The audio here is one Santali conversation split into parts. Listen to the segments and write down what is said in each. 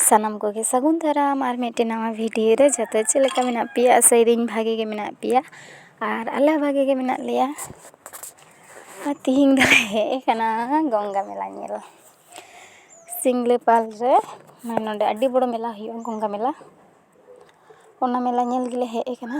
ᱥᱟᱱᱟᱢ ᱠᱚᱜᱮ ᱥᱟᱹᱜᱩᱱ ᱫᱟᱨᱟᱢ ᱟᱨ ᱢᱤᱫᱴᱮᱱ ᱱᱟᱣᱟ ᱵᱷᱤᱰᱭᱳ ᱨᱮ ᱡᱟᱛᱮ ᱪᱮᱫ ᱞᱮᱠᱟ ᱢᱮᱱᱟᱜ ᱯᱮᱭᱟ ᱟᱥᱟᱭ ᱫᱟᱹᱧ ᱵᱷᱟᱜᱮ ᱜᱮ ᱢᱮᱱᱟᱜ ᱯᱮᱭᱟ ᱟᱨ ᱟᱞᱮ ᱦᱚᱸ ᱵᱷᱟᱜᱮ ᱜᱮ ᱢᱮᱱᱟᱜ ᱞᱮᱭᱟ ᱟᱨ ᱛᱮᱦᱮᱧ ᱫᱚᱞᱮ ᱦᱮᱡ ᱠᱟᱱᱟ ᱜᱚᱝᱜᱟ ᱢᱮᱞᱟ ᱧᱮᱞ ᱥᱤᱢᱞᱟᱹᱯᱟᱞ ᱨᱮ ᱢᱟᱱᱮ ᱱᱚᱰᱮ ᱟᱹᱰᱤ ᱵᱚᱲᱚ ᱢᱮᱞᱟ ᱦᱩᱭᱩᱜᱼᱟ ᱜᱚᱝᱜᱟ ᱢᱮᱞᱟ ᱚᱱᱟ ᱢᱮᱞᱟ ᱧᱮᱞ ᱜᱮᱞᱮ ᱦᱮᱡ ᱠᱟᱱᱟ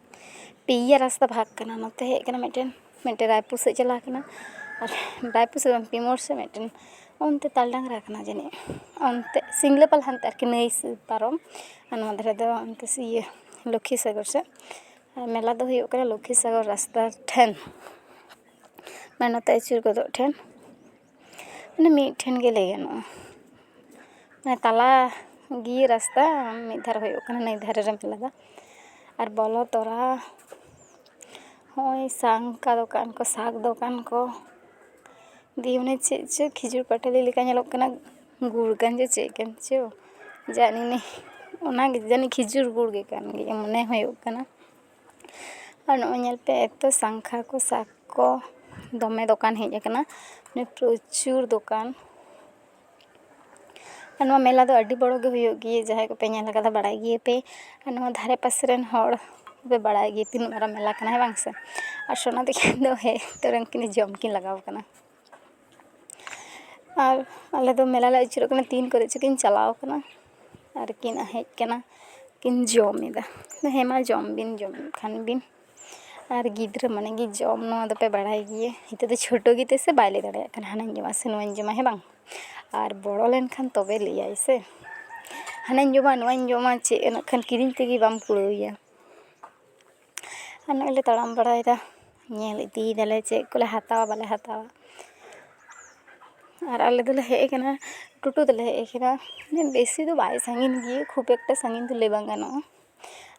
ᱯᱮᱭᱟ ᱨᱟᱥᱛᱟ ᱵᱷᱟᱜᱽ ᱠᱟᱱᱟ ᱱᱚᱛᱮ ᱦᱮᱡ ᱠᱟᱱᱟ ᱢᱤᱫᱴᱮᱱ ᱢᱤᱫᱴᱮᱱ ᱨᱟᱭᱯᱩᱨ ᱥᱮᱫ ᱪᱟᱞᱟᱣ ᱠᱟᱱᱟ ᱟᱨ ᱨᱟᱭᱯᱩᱨ ᱥᱮᱫ ᱫᱚ ᱵᱟᱝ ᱯᱤ ᱢᱳᱲ ᱥᱮᱫ ᱢᱤᱫᱴᱮᱱ ᱚᱱᱛᱮ ᱛᱟᱞ ᱰᱟᱝᱨᱟ ᱠᱟᱱᱟ ᱡᱟᱹᱱᱤᱡ ᱚᱱᱛᱮ ᱥᱤᱢᱞᱟᱹᱯᱟᱞ ᱦᱟᱱᱛᱮ ᱟᱨᱠᱤ ᱱᱟᱹᱭ ᱯᱟᱨᱚᱢ ᱟᱨ ᱱᱚᱣᱟ ᱫᱷᱟᱨᱮ ᱫᱚ ᱚᱱᱛᱮ ᱤᱭᱟᱹ ᱞᱚᱠᱠᱷᱤ ᱥᱟᱜᱚᱨ ᱥᱮᱫ ᱟᱨ ᱢᱮᱞᱟ ᱫᱚ ᱦᱩᱭᱩᱜ ᱠᱟᱱᱟ ᱞᱚᱠᱠᱷᱤ ᱥᱟᱜᱚᱨ ᱨᱟᱥᱛᱟ ᱴᱷᱮᱱ ᱢᱟᱱᱮ ᱱᱚᱛᱮ ᱟᱹᱪᱩᱨ ᱜᱚᱫᱚᱜ ᱴᱷᱮᱱ ᱢᱟᱱᱮ ᱢᱤᱫ ᱴᱷᱮᱱ ᱜᱮ ᱞᱟᱹᱭ ᱜᱟᱱᱚᱜᱼᱟ ᱢᱟᱱᱮ ᱛᱟᱞᱟ ᱜᱮ ᱨᱟᱥᱛᱟ ᱢᱤᱫ ᱫᱷᱟᱨᱮ ᱦᱩᱭᱩᱜ ᱠᱟᱱᱟ ᱱᱟᱹᱭ ᱫᱷᱟᱨᱮ ᱨᱮ ᱢᱮᱞᱟ ᱫᱚ ᱟᱨ ᱵᱚᱞᱚ ᱛᱚᱨᱟ ᱦᱚᱸᱜᱼᱚᱭ ᱥᱟᱝᱠᱟ ᱫᱚᱠᱟᱱ ᱠᱚ ᱥᱟᱠ ᱫᱚᱠᱟᱱ ᱠᱚ ᱫᱤᱭᱮ ᱚᱱᱮ ᱪᱮᱫ ᱪᱚ ᱠᱷᱤᱡᱩᱨ ᱯᱟᱴᱟᱞᱤ ᱞᱮᱠᱟ ᱧᱮᱞᱚᱜ ᱠᱟᱱᱟ ᱜᱩᱲ ᱠᱟᱱ ᱪᱚ ᱪᱮᱫ ᱠᱟᱱ ᱪᱚ ᱡᱟᱱᱤ ᱚᱱᱟᱜᱮ ᱡᱟᱹᱱᱤᱡ ᱠᱷᱤᱡᱩᱨ ᱜᱩᱲ ᱜᱮ ᱠᱟᱱ ᱜᱮᱭᱟ ᱢᱚᱱᱮ ᱦᱩᱭᱩᱜ ᱠᱟᱱᱟ ᱟᱨ ᱱᱚᱜᱼᱚᱭ ᱧᱮᱞ ᱯᱮ ᱮᱛᱚ ᱥᱟᱝᱠᱷᱟ ᱠᱚ ᱥᱟᱠ ᱠᱚ ᱫᱚᱢᱮ ᱫᱚᱠᱟᱱ ᱦᱮᱡ ᱟᱠᱟᱱᱟ ᱯᱨᱚᱪᱩᱨ ᱫᱚᱠᱟᱱ ᱟᱨ ᱱᱚᱣᱟ ᱢᱮᱞᱟ ᱫᱚ ᱟᱹᱰᱤ ᱵᱚᱲᱚ ᱜᱮ ᱦᱩᱭᱩᱜ ᱜᱮᱭᱟ ᱡᱟᱦᱟᱸᱭ ᱠᱚᱯᱮ ᱧᱮᱞ ᱠᱟᱫᱟ ᱵᱟᱲᱟᱭ ᱜᱮᱭᱟᱯᱮ ᱟᱨ ᱱᱚᱣᱟ ᱫᱷᱟᱨᱮ ᱯᱟᱥᱮ ᱨᱮᱱ ᱦᱚᱲ ᱫᱚᱯᱮ ᱵᱟᱲᱟᱭ ᱜᱮᱭᱟ ᱛᱤᱱᱟᱹᱜ ᱢᱟᱨᱟᱝ ᱢᱮᱞᱟ ᱠᱟᱱᱟ ᱦᱮᱸ ᱵᱟᱝ ᱥᱮ ᱟᱨ ᱥᱳᱱᱟ ᱫᱤᱜᱷᱤ ᱫᱚ ᱦᱮᱡ ᱛᱚᱨᱟ ᱩᱱᱠᱤᱱ ᱫᱚ ᱡᱚᱢ ᱠᱤᱱ ᱞᱟᱜᱟᱣ ᱠᱟᱱᱟ ᱟᱨ ᱟᱞᱮ ᱫᱚ ᱢᱮᱞᱟ ᱞᱮ ᱟᱹᱪᱩᱨᱚᱜ ᱠᱟᱱᱟ ᱛᱤᱱ ᱠᱚᱨᱮ ᱪᱚᱠᱤᱱ ᱪᱟᱞᱟᱣ ᱠᱟᱱᱟ ᱟᱨ ᱠᱤᱱ ᱦᱮᱡ ᱠᱟᱱᱟ ᱠᱤᱱ ᱡᱚᱢᱮᱫᱟ ᱦᱮᱸ ᱢᱟ ᱡᱚᱢ ᱵᱤᱱ ᱡᱚᱢᱮᱫ ᱠᱷᱟᱱ ᱵᱤᱱ ᱟᱨ ᱜᱤᱫᱽᱨᱟᱹ ᱢᱟᱱᱮ ᱜᱮ ᱡᱚᱢ ᱱᱚᱣᱟ ᱫᱚᱯᱮ ᱵᱟᱲᱟᱭ ᱜᱮᱭᱟ ᱱᱤᱛᱚᱜ ᱫᱚ ᱪᱷᱳᱴᱳ ᱜᱮᱛᱮ ᱥᱮ ᱵᱟᱭ ᱞᱟᱹᱭ ᱫᱟᱲᱮᱭᱟᱜ ᱠᱟᱱᱟ ᱦᱟᱱᱟᱧ ᱡᱚᱢᱟ ᱥᱮ ᱱᱚᱣᱟᱧ ᱡᱚᱢᱟ ᱦᱮᱸ ᱵᱟᱝ ᱟᱨ ᱵᱚᱲᱚ ᱞᱮᱱᱠᱷᱟᱱ ᱛᱚᱵᱮ ᱞᱟᱹᱭᱟᱭ ᱥᱮ ᱦᱟᱱᱟᱧ ᱡᱚᱢᱟ ᱱᱚᱣᱟᱧ ᱡᱚᱢᱟ ᱪᱮᱫ ᱱᱟᱜ ᱠᱷᱟᱱ ᱠᱤᱨᱤᱧ ᱛᱮᱜᱮ ᱵᱟᱢ ᱠᱩᱲᱟᱹᱣᱮᱭᱟ ᱟᱨ ᱱᱚᱜᱼᱚᱭ ᱞᱮ ᱛᱟᱲᱟᱢ ᱵᱟᱲᱟᱭᱮᱫᱟ ᱧᱮᱞ ᱤᱫᱤᱭ ᱫᱟᱞᱮ ᱪᱮᱫ ᱠᱚᱞᱮ ᱦᱟᱛᱟᱣᱟ ᱵᱟᱞᱮ ᱦᱟᱛᱟᱣᱟ ᱟᱨ ᱟᱞᱮ ᱫᱚᱞᱮ ᱦᱮᱡ ᱠᱟᱱᱟ ᱴᱳᱴᱳ ᱛᱮᱞᱮ ᱦᱮᱡ ᱠᱟᱱᱟ ᱵᱮᱥᱤ ᱫᱚ ᱵᱟᱭ ᱥᱟᱺᱜᱤᱧ ᱜᱮᱭᱟ ᱠᱷᱩᱵ ᱮᱠᱴᱟ ᱥᱟᱺᱜᱤᱧ ᱫᱚ ᱞᱟᱹᱭ ᱵᱟᱝ ᱜᱟᱱᱚᱜᱼᱟ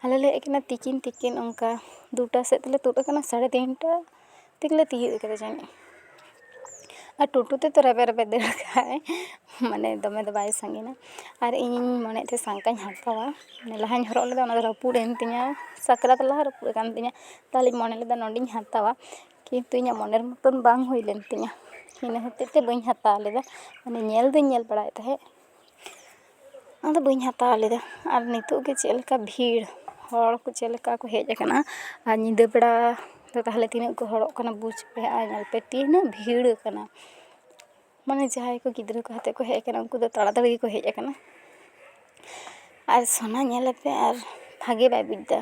ᱟᱞᱮ ᱞᱮ ᱦᱮᱡ ᱠᱟᱱᱟ ᱛᱤᱠᱤᱱ ᱛᱤᱠᱤᱱ ᱚᱱᱠᱟ ᱫᱩᱴᱟ ᱥᱮᱫ ᱛᱮᱞᱮ ᱛᱩᱫ ᱠᱟᱱᱟ ᱥᱟᱲᱮ ᱛᱤᱱᱴᱟ ᱛᱮᱜᱮᱞᱮ ᱛᱤᱭᱳᱜ ᱠᱟᱫᱟ ᱡᱟᱹᱱᱤᱡ ᱟᱨ ᱴᱳᱴᱳ ᱛᱮᱫᱚ ᱨᱮᱵᱮᱫ ᱨᱮᱵᱮᱫ ᱫᱟᱹᱲ ᱠᱟᱜᱼᱟᱭ ᱢᱟᱱᱮ ᱫᱚᱢᱮ ᱫᱚ ᱵᱟᱭ ᱥᱟᱺᱜᱤᱧᱟ ᱟᱨ ᱤᱧᱤᱧ ᱢᱚᱱᱮᱭᱮᱫ ᱛᱟᱦᱮᱸᱜ ᱥᱟᱝᱠᱟᱧ ᱦᱟᱛᱟᱣᱟ ᱢᱟᱱᱮ ᱞᱟᱦᱟᱧ ᱦᱚᱨᱚᱜ ᱞᱮᱫᱟ ᱚᱱᱟᱫᱚ ᱨᱟᱹᱯᱩᱫ ᱮᱱ ᱛᱤᱧᱟᱹ ᱥᱟᱠᱨᱟᱛ ᱞᱟᱦᱟ ᱨᱟᱹᱯᱩᱫ ᱟᱠᱟᱱ ᱛᱤᱧᱟᱹ ᱛᱟᱦᱚᱞᱮᱧ ᱢᱚᱱᱮ ᱞᱮᱫᱟ ᱱᱚᱰᱮᱧ ᱦᱟᱛᱟᱣᱟ ᱠᱤᱱᱛᱩ ᱤᱧᱟᱹᱜ ᱢᱚᱱᱮᱨ ᱢᱚᱛᱚᱱ ᱵᱟᱝ ᱦᱩᱭ ᱞᱮᱱ ᱛᱤᱧᱟᱹ ᱤᱱᱟᱹ ᱦᱚᱛᱮᱡ ᱛᱮ ᱵᱟᱹᱧ ᱦᱟᱛᱟᱣ ᱞᱮᱫᱟ ᱢᱟᱱᱮ ᱧᱮᱞ ᱫᱚᱧ ᱧᱮᱞ ᱵᱟᱲᱟᱭᱮᱫ ᱛᱟᱦᱮᱸᱜ ᱟᱫᱚ ᱵᱟᱹᱧ ᱦᱟᱛᱟᱣ ᱞᱮᱫᱟ ᱟᱨ ᱱᱤᱛᱳᱜ ᱜᱮ ᱪᱮᱫ ᱞᱮᱠᱟ ᱵᱷᱤᱲ ᱦᱚᱲ ᱠᱚ ᱪᱮᱫ ᱞᱮᱠᱟ ᱠᱚ ᱦᱮᱡ ᱟᱠᱟᱱᱟ ᱟᱨ ᱧᱤᱫᱟᱹ ᱵᱮᱲᱟ ᱫᱚ ᱛᱟᱦᱚᱞᱮ ᱛᱤᱱᱟᱹᱜ ᱠᱚ ᱦᱚᱲᱚᱜ ᱠᱟᱱᱟ ᱵᱩᱡᱽ ᱯᱮ ᱟᱨ ᱧᱮᱞ ᱯᱮ ᱛᱤᱱᱟᱹᱜ ᱵᱷᱤᱲ ᱟᱠᱟᱱᱟ ᱢᱟᱱᱮ ᱡᱟᱦᱟᱸᱭ ᱠᱚ ᱜᱤᱫᱽᱨᱟᱹ ᱠᱚ ᱟᱛᱮᱫ ᱠᱚ ᱦᱮᱡ ᱟᱠᱟᱱᱟ ᱩᱱᱠᱩ ᱫᱚ ᱛᱟᱲᱟ ᱛᱟᱲᱤ ᱜᱮᱠᱚ ᱦᱮᱡ ᱟᱠᱟᱱᱟ ᱟᱨ ᱥᱳᱱᱟ ᱧᱮᱞ ᱞᱮᱯᱮ ᱟᱨ ᱵᱷᱟᱜᱮ ᱵᱟᱭ ᱵᱩᱡᱽ ᱮᱫᱟ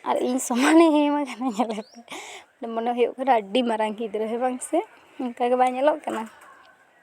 ᱟᱨ ᱤᱧ ᱥᱚᱢᱟᱱᱮ ᱮᱢ ᱟᱠᱟᱱᱟ ᱧᱮᱞ ᱞᱮᱯᱮ ᱢᱚᱱᱮ ᱦᱩᱭᱩᱜ ᱠᱟᱱᱟ ᱟᱹᱰᱤ ᱢᱟᱨᱟᱝ ᱜᱤᱫᱽᱨᱟᱹ ᱦᱮᱸ ᱵᱟᱝ ᱥᱮ ᱚᱱᱠᱟ ᱜᱮ ᱵᱟᱭ ᱧᱮᱞᱚᱜ ᱠᱟᱱᱟ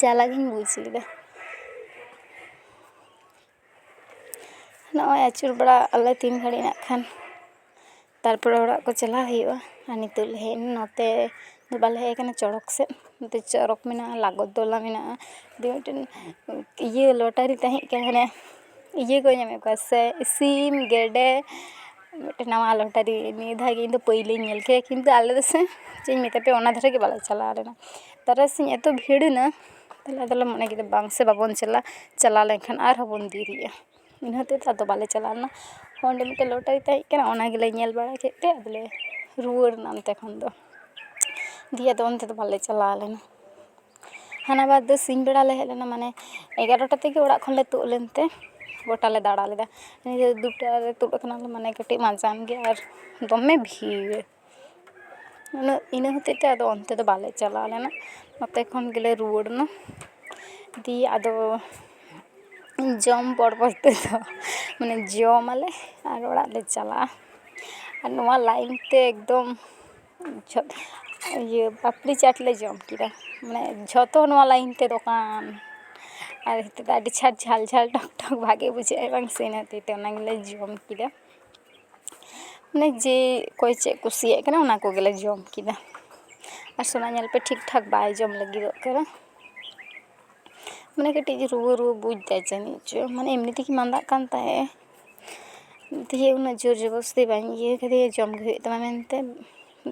ᱡᱟᱞᱟ ᱜᱤᱧ ᱵᱩᱡᱽ ᱞᱮᱫᱟ ᱱᱚᱜᱼᱚᱭ ᱟᱹᱪᱩᱨ ᱵᱟᱲᱟᱜ ᱟᱞᱮ ᱛᱤᱱ ᱜᱷᱟᱹᱲᱤᱡ ᱱᱟᱜ ᱠᱷᱟᱱ ᱛᱟᱨᱯᱚᱨᱮ ᱚᱲᱟᱜ ᱠᱚ ᱪᱟᱞᱟᱣ ᱦᱩᱭᱩᱜᱼᱟ ᱟᱨ ᱱᱤᱛᱳᱜ ᱞᱮ ᱦᱮᱡ ᱮᱱᱟ ᱱᱚᱛᱮ ᱫᱚ ᱵᱟᱞᱮ ᱦᱮᱡ ᱠᱟᱱᱟ ᱪᱚᱲᱚᱠ ᱥᱮᱫ ᱱᱚᱛᱮ ᱪᱚᱨᱚᱠ ᱢᱮᱱᱟᱜᱼᱟ ᱞᱟᱜᱚᱫ ᱛᱚᱞᱟ ᱢᱮᱱᱟᱜᱼᱟ ᱫᱤᱭᱮ ᱢᱤᱫᱴᱮᱱ ᱤᱭᱟᱹ ᱞᱚᱴᱟᱨᱤ ᱛᱟᱦᱮᱸᱠᱟᱱᱟ ᱦᱟᱱᱮ ᱤᱭᱟᱹ ᱠᱚ ᱧᱟᱢᱮᱫ ᱠᱚᱣᱟ ᱥᱮ ᱥᱤᱢ ᱜᱮᱰᱮ ᱢᱤᱫᱴᱮᱱ ᱱᱟᱣᱟ ᱞᱚᱴᱟᱨᱤ ᱱᱤᱭᱟᱹ ᱫᱷᱟᱣ ᱜᱮ ᱤᱧ ᱫᱚ ᱯᱳᱭᱞᱳᱧ ᱧᱮᱞ ᱠᱮᱫᱟ ᱠᱤᱱᱛᱩ ᱟᱞᱮ ᱫᱚ ᱥᱮ ᱪᱮᱫ ᱤᱧ ᱢᱮᱛᱟ ᱯᱮᱭᱟ ᱚᱱᱟ ᱫᱷᱟᱨᱮ ᱜᱮ ᱵᱟᱞᱮ ᱪᱟᱞᱟᱣ ᱞᱮᱱᱟ ᱛᱟᱨᱟᱥᱤᱧ ᱮᱛᱚ ᱵᱷᱤᱲ ᱮᱱᱟ ᱛᱟᱦᱚᱞᱮ ᱟᱫᱚᱞᱮ ᱢᱚᱱᱮ ᱠᱮᱫᱟ ᱵᱟᱝ ᱥᱮ ᱵᱟᱵᱚᱱ ᱪᱟᱞᱟᱜᱼᱟ ᱪᱟᱞᱟᱣ ᱞᱮᱱᱠᱷᱟᱱ ᱟᱨᱦᱚᱸ ᱵᱚᱱ ᱫᱮᱨᱤᱜᱼᱟ ᱤᱱᱟᱹ ᱦᱚᱛᱮᱡ ᱛᱮ ᱟᱫᱚ ᱵᱟᱞᱮ ᱪᱟᱞᱟᱣ ᱞᱮᱱᱟ ᱚᱸᱰᱮ ᱢᱤᱫᱴᱮᱱ ᱞᱚᱴᱟᱨᱤ ᱛᱟᱦᱮᱸ ᱠᱟᱱᱟ ᱚᱱᱟ ᱜᱮᱞᱮ ᱧᱮᱞ ᱵᱟᱲᱟ ᱠᱮᱫ ᱛᱮ ᱟᱫᱚᱞᱮ ᱨᱩᱣᱟᱹᱲ ᱮᱱᱟ ᱚᱱᱛᱮ ᱠᱷᱚᱱ ᱫᱚ ᱫᱤᱭᱮ ᱟᱫᱚ ᱚᱱᱛᱮ ᱫᱚ ᱵᱟᱞᱮ ᱪᱟᱞᱟᱣ ᱞᱮᱱᱟ ᱦᱟᱱᱟ ᱵᱟᱨ ᱫᱚ ᱥᱤᱧ ᱵᱮᱲᱟ ᱞᱮ ᱦᱮᱡ ᱞᱮᱱᱟ ᱢᱟᱱᱮ ᱮᱜᱟᱨᱚᱴᱟ ᱛᱮᱜᱮ ᱚᱲᱟᱜ ᱠᱷᱚᱱᱞᱮ ᱛᱩᱫ ᱞᱮᱱᱛᱮ ᱜᱳᱴᱟ ᱞᱮ ᱫᱟᱬᱟ ᱞᱮᱫᱟ ᱱᱤᱭᱟᱹ ᱫᱩᱴᱟ ᱨᱮ ᱛᱩᱫ ᱠᱟᱱᱟᱞᱮ ᱢᱟᱱᱮ ᱠᱟᱹᱴᱤᱡ ᱢᱟᱸᱡᱟᱱ ᱜᱮ ᱟᱨ ᱫᱚᱢᱮ ᱵᱷᱤᱲ ᱩᱱᱟᱹᱜ ᱤᱱᱟᱹ ᱦᱚᱛᱮᱡ ᱛᱮ ᱟᱫᱚ ᱚᱱᱛᱮ ᱫᱚ ᱵᱟᱞᱮ ᱪᱟᱞᱟᱣ ᱞᱮᱱᱟ ᱱᱚᱛᱮ ᱠᱷᱚᱱ ᱜᱮᱞᱮ ᱨᱩᱣᱟᱹᱲ ᱮᱱᱟ ᱫᱤᱭᱮ ᱟᱫᱚ ᱡᱚᱢ ᱯᱚᱨᱚᱵᱚᱨᱛᱤ ᱫᱚ ᱢᱟᱱᱮ ᱡᱚᱢ ᱟᱞᱮ ᱟᱨ ᱚᱲᱟᱜ ᱞᱮ ᱪᱟᱞᱟᱜᱼᱟ ᱟᱨ ᱱᱚᱣᱟ ᱞᱟᱭᱤᱱ ᱛᱮ ᱮᱠᱫᱚᱢ ᱡᱷᱚᱛ ᱤᱭᱟᱹ ᱯᱟᱯᱲᱤ ᱪᱟᱴ ᱞᱮ ᱡᱚᱢ ᱠᱮᱫᱟ ᱢᱟᱱᱮ ᱡᱷᱚᱛᱚ ᱱᱚᱣᱟ ᱞᱟᱭᱤᱱ ᱛᱮ ᱫᱚᱠᱟᱱ ᱟᱨ ᱱᱤᱛᱚᱜ ᱫᱚ ᱟᱹᱰᱤ ᱪᱷᱟᱴ ᱡᱷᱟᱞ ᱡᱷᱟᱞ ᱴᱚᱠ ᱴᱚᱠ ᱵᱷᱟᱜᱮ ᱵᱩᱡᱷᱟᱹᱜᱼᱟ ᱵᱟᱝ ᱥᱮ ᱤᱱᱟᱹ ᱦᱚᱛᱮᱡ ᱛᱮ ᱚᱱᱟ ᱜᱮᱞᱮ ᱡᱚᱢ ᱠᱮᱫᱟ ᱢᱟᱱᱮ ᱡᱮ ᱚᱠᱚᱭ ᱪᱮᱫ ᱠᱩᱥᱤᱭᱟᱜ ᱠᱟᱱᱟ ᱚᱱᱟ ᱠᱚᱜᱮᱞᱮ ᱡᱚᱢ ᱠᱮᱫᱟ ᱟᱨ ᱥᱳᱱᱟ ᱧᱮᱞ ᱯᱮ ᱴᱷᱤᱠ ᱴᱷᱟᱠ ᱵᱟᱭ ᱡᱚᱢ ᱞᱟᱹᱜᱤᱫᱚᱜ ᱠᱟᱱᱟ ᱢᱟᱱᱮ ᱠᱟᱹᱴᱤᱡ ᱨᱩᱣᱟᱹ ᱨᱩᱣᱟᱹ ᱵᱩᱡᱽᱫᱟᱭ ᱡᱟᱹᱱᱤᱡ ᱪᱚ ᱢᱟᱱᱮ ᱮᱢᱱᱤ ᱛᱮᱜᱮ ᱢᱟᱫᱟᱜ ᱠᱟᱱ ᱛᱟᱦᱮᱸᱜ ᱮ ᱫᱤᱭᱮ ᱩᱱᱟᱹᱜ ᱡᱳᱨ ᱡᱚᱵᱚᱥᱛᱤ ᱵᱟᱹᱧ ᱤᱭᱟᱹ ᱠᱟᱫᱮᱭᱟ ᱡᱚᱢ ᱜᱮ ᱦᱩᱭᱩᱜ ᱛᱟᱢᱟ ᱢᱮᱱᱛᱮ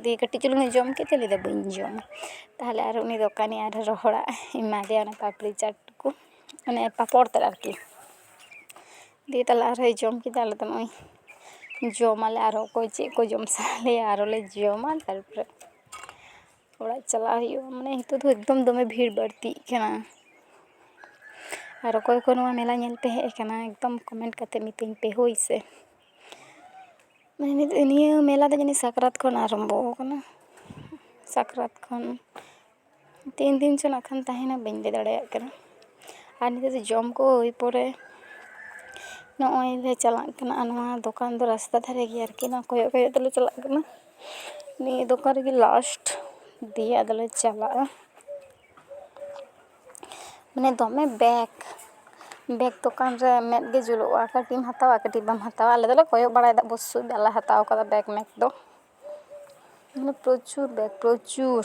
ᱫᱤᱭᱮ ᱠᱟᱹᱴᱤᱡ ᱪᱩᱞᱩᱝ ᱮ ᱡᱚᱢ ᱠᱮᱫ ᱛᱮ ᱞᱟᱹᱭᱫᱟᱭ ᱵᱟᱹᱧ ᱡᱚᱢᱟ ᱛᱟᱦᱚᱞᱮ ᱟᱨᱚ ᱩᱱᱤ ᱫᱚᱠᱟᱱᱤ ᱟᱨᱚ ᱨᱚᱦᱚᱲᱟᱜ ᱮᱢᱟ ᱫᱮᱭᱟ ᱚᱱᱟ ᱯᱟᱯᱲᱤ ᱪᱟᱴ ᱠᱚ ᱢᱟᱱᱮ ᱯᱟᱯᱚᱲ ᱛᱮᱫ ᱟᱨᱠᱤ ᱫᱤᱭᱮ ᱛᱟᱦᱚᱞᱮ ᱟᱨᱦᱚᱸᱭ ᱡᱚᱢ ᱠᱮᱫᱟ ᱟᱞᱮ ᱫᱚ ᱱᱚᱜᱼᱚᱭ ᱡᱚᱢᱟᱞᱮ ᱟᱨᱚ ᱚᱠᱚᱭ ᱪᱮᱫ ᱠᱚ ᱡᱚᱢ ᱥᱟᱱᱟ ᱞᱮᱭᱟ ᱟᱨᱚᱞᱮ ᱡᱚᱢᱟ ᱛᱟᱨᱯᱚᱨᱮ ᱚᱲᱟᱜ ᱪᱟᱞᱟᱜ ᱦᱩᱭᱩᱜᱼᱟ ᱢᱟᱱᱮ ᱱᱤᱛᱚᱜ ᱫᱚ ᱮᱠᱫᱚᱢ ᱫᱚᱢᱮ ᱵᱷᱤᱲ ᱵᱟᱹᱲᱛᱤᱜ ᱠᱟᱱᱟ ᱟᱨ ᱚᱠᱚᱭ ᱠᱚ ᱱᱚᱣᱟ ᱢᱮᱞᱟ ᱧᱮᱞ ᱯᱮ ᱦᱮᱡ ᱠᱟᱱᱟ ᱮᱠᱫᱚᱢ ᱠᱚᱢᱮᱱᱴ ᱠᱟᱛᱮ ᱢᱤᱛᱟᱹᱧ ᱯᱮ ᱦᱳᱭ ᱥᱮ ᱱᱤᱭᱟᱹ ᱢᱮᱞᱟ ᱫᱚ ᱡᱟᱹᱱᱤᱡ ᱥᱟᱠᱨᱟᱛ ᱠᱷᱚᱱ ᱟᱨᱟᱢᱵᱚ ᱠᱟᱱᱟ ᱥᱟᱠᱨᱟᱛ ᱠᱷᱚᱱ ᱛᱤᱱ ᱫᱤᱱ ᱪᱚ ᱱᱟᱜ ᱠᱷᱟᱱ ᱛᱟᱦᱮᱱᱟ ᱵᱟᱹᱧ ᱞᱟᱹᱭ ᱫᱟᱲᱮᱭᱟᱜ ᱠᱟᱱᱟ ᱟᱨ ᱱᱤᱛᱚᱜ ᱫᱚ ᱡᱚᱢ ᱠᱚ ᱦᱩᱭ ᱯᱚᱨᱮ ᱱᱚᱜᱼᱚᱭ ᱞᱮ ᱪᱟᱞᱟᱜ ᱠᱟᱱᱟ ᱟᱨ ᱱᱚᱣᱟ ᱫᱚᱠᱟᱱ ᱫᱚ ᱨᱟᱥᱛᱟ ᱫᱷᱟᱨᱮ ᱜᱮᱭᱟ ᱟᱨᱠᱤ ᱱᱚᱣᱟ ᱠᱚᱭᱚᱜ ᱠᱚᱭᱚᱜ ᱛᱮᱞᱮ ᱪᱟᱞᱟᱜ ᱠᱟᱱᱟ ᱱᱤᱭᱟᱹ ᱫᱚᱠᱟᱱ ᱨᱮᱜᱮ ᱞᱟᱥᱴ ᱫᱤᱭᱮ ᱟᱫᱚᱞᱮ ᱪᱟᱞᱟᱜᱼᱟ ᱢᱟᱱᱮ ᱫᱚᱢᱮ ᱵᱮᱜᱽ ᱵᱮᱜᱽ ᱫᱚᱠᱟᱱ ᱨᱮ ᱢᱮᱫ ᱜᱮ ᱡᱩᱞᱩᱜᱼᱟ ᱠᱟᱹᱴᱤᱡ ᱮᱢ ᱦᱟᱛᱟᱣᱟ ᱠᱟᱹᱴᱤᱡ ᱵᱟᱢ ᱦᱟᱛᱟᱣᱟ ᱟᱞᱮ ᱫᱚᱞᱮ ᱠᱚᱭᱚᱜ ᱵᱟᱲᱟᱭᱮᱫᱟ ᱚᱵᱚᱥᱥᱳᱭ ᱵᱟᱞᱮ ᱦᱟᱛᱟᱣ ᱠᱟᱫᱟ ᱵᱮᱜᱽ ᱢᱮᱜᱽ ᱫᱚ ᱢᱟᱱᱮ ᱯᱨᱚᱪᱩᱨ ᱵᱮᱜᱽ ᱯᱨᱚᱪᱩᱨ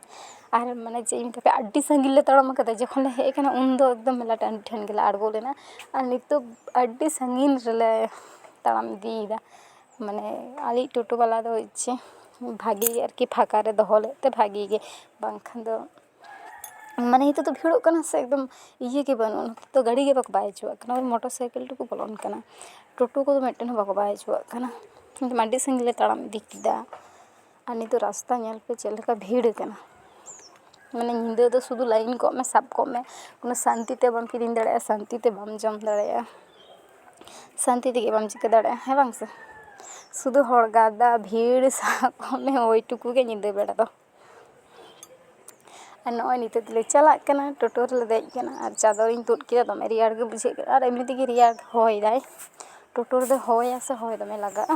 ᱟᱨ ᱢᱟᱱᱮ ᱪᱮᱫ ᱤᱧ ᱢᱮᱛᱟᱯᱮᱭᱟ ᱟᱹᱰᱤ ᱥᱟᱺᱜᱤᱧ ᱞᱮ ᱛᱟᱲᱟᱢ ᱠᱟᱫᱟ ᱡᱚᱠᱷᱚᱱ ᱞᱮ ᱦᱮᱡ ᱠᱟᱱᱟ ᱩᱱ ᱫᱚ ᱮᱠᱫᱚᱢ ᱢᱮᱞᱟ ᱴᱟᱺᱰᱤ ᱴᱷᱮᱱ ᱜᱮᱞᱮ ᱟᱬᱜᱚ ᱞᱮᱱᱟ ᱟᱨ ᱱᱤᱛᱚᱜ ᱟᱹᱰᱤ ᱥᱟᱺᱜᱤᱧ ᱨᱮᱞᱮ ᱛᱟᱲᱟᱢ ᱤᱫᱤᱭᱮᱫᱟ ᱢᱟᱱᱮ ᱟᱞᱮᱭᱤᱡ ᱴᱳᱴᱳ ᱵᱟᱞᱟ ᱫᱚ ᱪᱮᱫ ᱵᱷᱟᱜᱮ ᱜᱮ ᱟᱨᱠᱤ ᱯᱷᱟᱸᱠᱟ ᱨᱮ ᱫᱚᱦᱚ ᱞᱮᱫ ᱛᱮ ᱵᱷᱟᱜᱮ ᱜᱮ ᱵᱟᱝᱠᱷᱟᱱ ᱫᱚ ᱢᱟᱱᱮ ᱱᱤᱛᱚᱜ ᱫᱚ ᱵᱷᱤᱲᱚᱜ ᱠᱟᱱᱟ ᱥᱮ ᱮᱠᱫᱚᱢ ᱤᱭᱟᱹ ᱜᱮ ᱵᱟᱹᱱᱩᱜᱼᱟ ᱱᱤᱛᱚᱜ ᱫᱚ ᱜᱟᱹᱰᱤ ᱜᱮ ᱵᱟᱠᱚ ᱵᱟᱭ ᱦᱚᱪᱚᱣᱟᱜ ᱠᱟᱱᱟ ᱳᱭ ᱢᱚᱴᱚᱨ ᱥᱟᱭᱠᱮᱞ ᱴᱩᱠᱩ ᱵᱚᱞᱚᱱ ᱠᱟᱱᱟ ᱴᱳᱴᱳ ᱠᱚᱫᱚ ᱢᱤᱫᱴᱮᱱ ᱦᱚᱸ ᱵᱟᱠᱚ ᱵᱟᱭ ᱦᱚᱪᱚᱣᱟᱜ ᱠᱟᱱᱟ ᱮᱠᱫᱚᱢ ᱟᱹᱰᱤ ᱥᱟᱺᱜᱤᱧ ᱞᱮ ᱛᱟᱲᱟᱢ ᱤᱫᱤ ᱠᱮᱫᱟ ᱟᱨ ᱱᱤᱛᱚᱜ ᱨᱟᱥᱛᱟ ᱧᱮᱞ ᱯᱮ ᱪᱮᱫ ᱞᱮᱠᱟ ᱵᱷᱤᱲ ᱟᱠᱟᱱᱟ ᱢᱟᱱᱮ ᱧᱤᱫᱟᱹ ᱫᱚ ᱥᱩᱫᱷᱩ ᱞᱟᱭᱤᱱ ᱠᱚᱜ ᱢᱮ ᱥᱟᱵ ᱠᱚᱜ ᱢᱮ ᱠᱳᱱᱳ ᱥᱟᱱᱛᱤ ᱛᱮ ᱵᱟᱢ ᱠᱤᱨᱤᱧ ᱫᱟᱲᱮᱭᱟᱜᱼᱟ ᱥᱟᱱᱛᱤ ᱛᱮ ᱵᱟᱢ ᱡᱚᱢ ᱫᱟᱲᱮᱭᱟᱜᱼᱟ ᱥᱟᱱᱛᱤ ᱛᱮᱜᱮ ᱵᱟᱢ ᱪᱤᱠᱟᱹ ᱫᱟᱲᱮᱭᱟᱜᱼᱟ ᱦᱮᱸ ᱵᱟᱝ ᱥᱮ ᱥᱩᱫᱷᱩ ᱦᱚᱲ ᱜᱟᱫᱟ ᱵᱷᱤᱲ ᱥᱟᱦᱟᱜ ᱠᱚᱜ ᱢᱮ ᱳᱭ ᱴᱩᱠᱩ ᱜᱮ ᱧᱤᱫᱟᱹ ᱵᱮᱲᱟ ᱫᱚ ᱟᱨ ᱱᱚᱜᱼᱚᱭ ᱱᱤᱛᱚᱜ ᱫᱚᱞᱮ ᱪᱟᱞᱟᱜ ᱠᱟᱱᱟ ᱴᱳᱴᱳ ᱨᱮᱞᱮ ᱫᱮᱡ ᱠᱟᱱᱟ ᱟᱨ ᱪᱟᱫᱚᱨ ᱤᱧ ᱛᱩᱫ ᱠᱮᱫᱟ ᱫᱚᱢᱮ ᱨᱮᱭᱟᱲ ᱜᱮ ᱵᱩᱡᱷᱟᱹᱜ ᱠᱟᱱᱟ ᱟᱨ ᱮᱢᱱᱤ ᱛᱮᱜᱮ ᱨᱮᱭᱟᱲ ᱦᱚᱭ ᱫᱟᱭ ᱴᱳᱴᱳ ᱨᱮᱫᱚ ᱦᱚᱭᱟᱭ ᱥᱮ ᱦᱚᱭ ᱫᱚᱢᱮ ᱞᱟᱜᱟᱜᱼᱟ